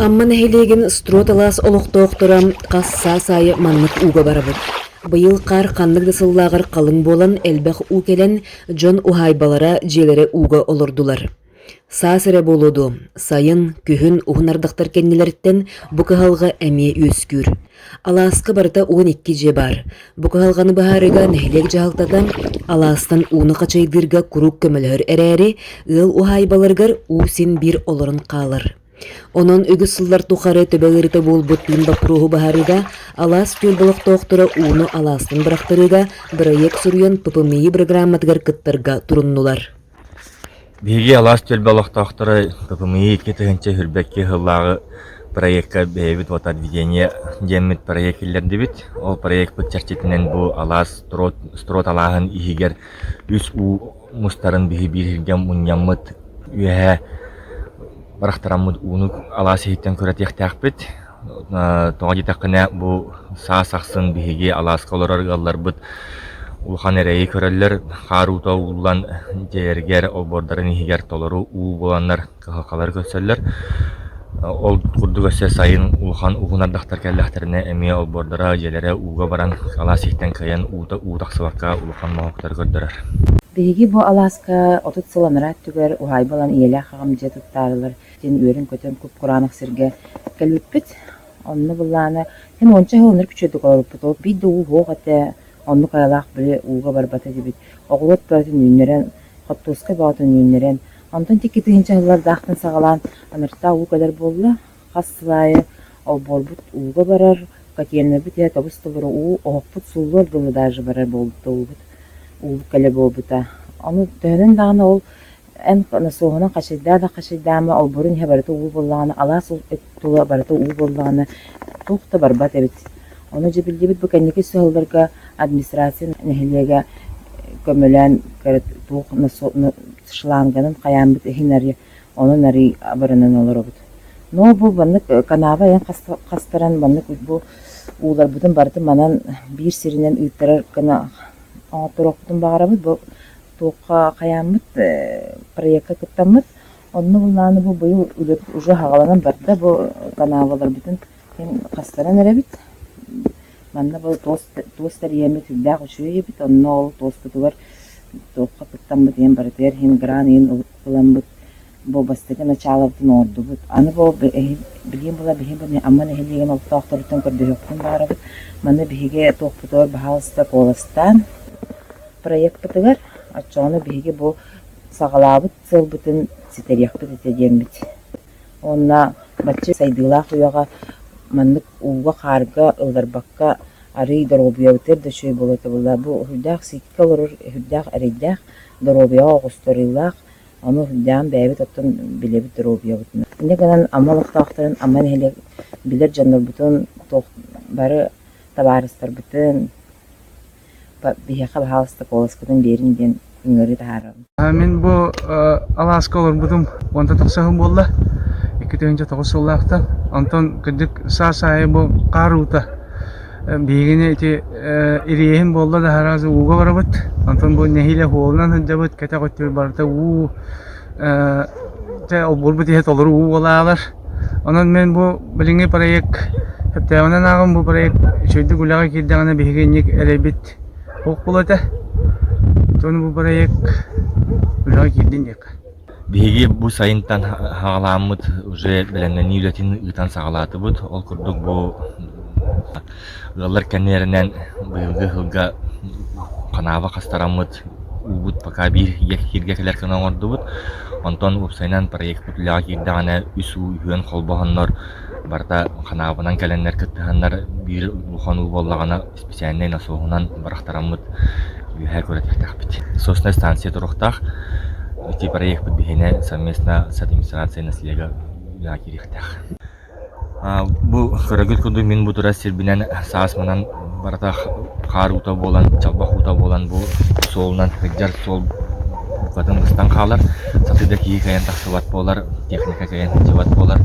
Амма нэһилиэгин Строд-Алаас олохтоохторо хас саас аайы маннык ууга барабыт. Быйыл хаар ханнык да сыллааҕар халыҥ буолан, элбэх уу кэлэн, дьон уһаайбалара дьиэлэрэ ууга олордулар. Саас эрэ буолуо дуо, сайын, күһүн уһун ардахтар кэннилэриттэн бу кыһалҕа эмиэ үөскүүр. Алааска барыта уон икки дьиэ баар. Бу кыһалҕаны быһаарыыга нэһилиэк дьаһалтата алаастан ууну хачайдыырга куруук көмөлөһөр эрээри, ыал уһаайбаларыгар уу син биир олорон хаалар. Онон үгүс сыллар тухары төбө ыарыыта буолбуттуун боппуруоһу быһаарыыга алаас түөлбэ олохтоохторо ууну алаастан бырахтарыыга бырайыак суруйан ППМИ бырагырааматыгар кыттарга туруннулар. Биһиги алаас түөлбэ олохтоохторо ППМИ икки тыһыынча үһүрбэкки сыллааҕы проекка бэйэбит «Водоведение» диэммит проект киллэрдибит. Ол проекпыт чэрчитинэн бу алаас Строот, Строот алааһын иһигэр үс уу мустарын биһи биир иһиргэ мунньаммыт үөһэ барахтараммыт ууну алаас иһиттэн көрө диэхтээхпит. Тоҕо диэтэххинэ, бу саас ахсын биһиги алааска олорор ыалларбыт улахан эрэйи көрөллөр. Хаар уута угуллан дьиэлэригэр, обуордарын иһигэр толору уу буланнар кыһалҕалары көрсөллөр. Ол курдук өссө сайын улахан уһун ардахтар кэллэхтэринэ эмиэ обуордара, дьиэлэрэ ууга баран алаас иһиттэн кыайан уута уу тахсыбакка улахан моһуоктары көрдөрөр. Биһиги бу алааска отут сыл анараа өттүгэр уһаайба ылан ийэлээх аҕам дьиэ туттаарылар диэн үөрэн-көтөн куп-кураанах сиргэ кэлбиппит. Онно былаана эн уонча сылынар күчүөтүк олоруппут. Ол биирдэ уу суох этэ, оннук айалаах били ууга барбата диэбит. Оҕуруот бөҕөтүн үүннэрэн, хортуоскай бөҕөтүн үүннэрэн, онтон икки тыһыынча сыллардаахтан саҕалаан анараа уу кэлэр буолла. Хас сыл аайы олбуорбут ууга барар, котельнайбыт иһэ тобус-тобура уу, оһохпут сууллар дылы даже барар буолбута уубут. Уу кэлэ буолбута. Ону төһөнөн даҕаны ол эн суоһунан хачайдаа да хачайдаама, олбурун иһэ барыта уу буоллаҕына, алаас тула барыта уу буоллаҕына, туох да барбат эбит. Ону дьэ биллибит бу кэнники сыалларга администрация нэһилиэгэ көмөлөөн туох шланганын хайааммыт иһин арыйа, онон арый абыранан олоробут. Но бу маннык канаба айан хастаран маннык бу ууларбытын барытын манан биир сиринэн ыыттарар гына оҥотторуохпутун баҕарабыт. Бу туохха хайааммыт проекка кыттаммыт. Онно булнааны бу быйыл үлэ уже хагаланан барда бу канаалаларбытын мин хастаран эрэбит. Манна бу туос тэрийэммит үрдээх үчүгэй эбит. Онно ол туоспутугар туохха кыттаммыт иһин барытыгар иһин грант иһин ылыммыт бу бастакы начаалабытын оҥордубут. Аны бу билигин була биһиги Амма нэһилиэгин олохтоохторуттан көрдөһүөхпүн баҕарабыт. Маны биһиги туохпутугар баһаалыста куоластаан проекпытыгар оччоҕуна биһиги бу саҕалаабыт сыалбытын ситэриэхпит этэ диэммит. Уонна бачча сайдыылаах үйэҕэ маннык ууга-хаарга ылларбакка арыый доруобуйабытыгар да үчүгэй буолуо буолла. Бу үһүрдээх сииккэ олорор үһүрдээх эрэйдээх, доруобуйаҕа оҕустарыылаах Ону даам бэйэбит оттон билэбит доруобуйабытынан. Инньэ гынан Амма олохтоохторун Амма нэһилиэк билэр дьоннорбутун туох бары табаарыстарбытын биһиэхэ баһаалыста куоласкытын биэрин диэн ыҥырыы таһаарабын. Мин бу алааска олорбутум уонта тахсаһын буолла. Икки тыһыынча тоҕус сыллаахтан. Онтон кырдьык саас аайы бу хаар уута Биһигини ити ириэһин буолла да араас ууга барабыт, онтон бу нэһиилэ уһуолунан сылдьабыт, кэтэх өттүгэр барыта уу дьэ олбурбут иһэ толору уу буолаалар. Онон мин бу билиҥҥи проект кэпсээбинэн ааҕан бу проект үчэйдик үлэҕэ киирдэҕинэ биһиги инник эрэйбит суох буолуо этэ. Итиэннэ бу проект үлэҕэ киирдин диэххэ. Биһиги бу сайынтан саҕалааммыт уже бэлэмнэнии үлэтин ыытан саҕалаатыбыт. Ол курдук бу ыаллар кэннилэринэн быйылгы сылга канаба хастараммыт уубут пока биир кииргэ кэлэр гына оҥордубут. Онтон уопсайынан проекпыт үлэҕэ киирдэҕинэ үс уу үһүөн холбоһоннор барыта канаабанан кэлэннэр кыттыһаннар биир улахан уу буоллаҕына специальнай носуоһунан бырахтараммыт үөһэ көрүтүөхтэхпит. Соснай станция туруохтаах. Ити проекпыт биһиэнэ совместно с администрацией наследия киириэхтээх. Бу көрөгүт курдук мин бу турар сирбинэн саас манан барыта хаар уута буолан, чалбах уута буолан бу суолунан кырдьар суол букатын быстан хаалар. Сатыы да киһи кайан тахсыбат буолар, техника кайан сылдьыбат буолар.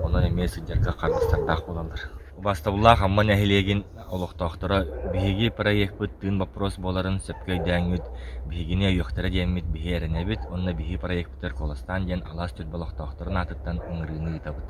Онон эмиэ сылдьарга харбастардаах буолаллар. Убастабыллаах Амма нэһилиэгин олохтоохторо биһиги проекпыт тыын боппуруос буоларын сөпкө өйдөөҥҥүт, биһигини өйүөхтэрэ диэммит биһи эрэнэбит уонна биһи проекпытыгар куоластаан диэн алаас түөлбэ олохтоохторун аатыттан ыҥырыыны ыытабыт.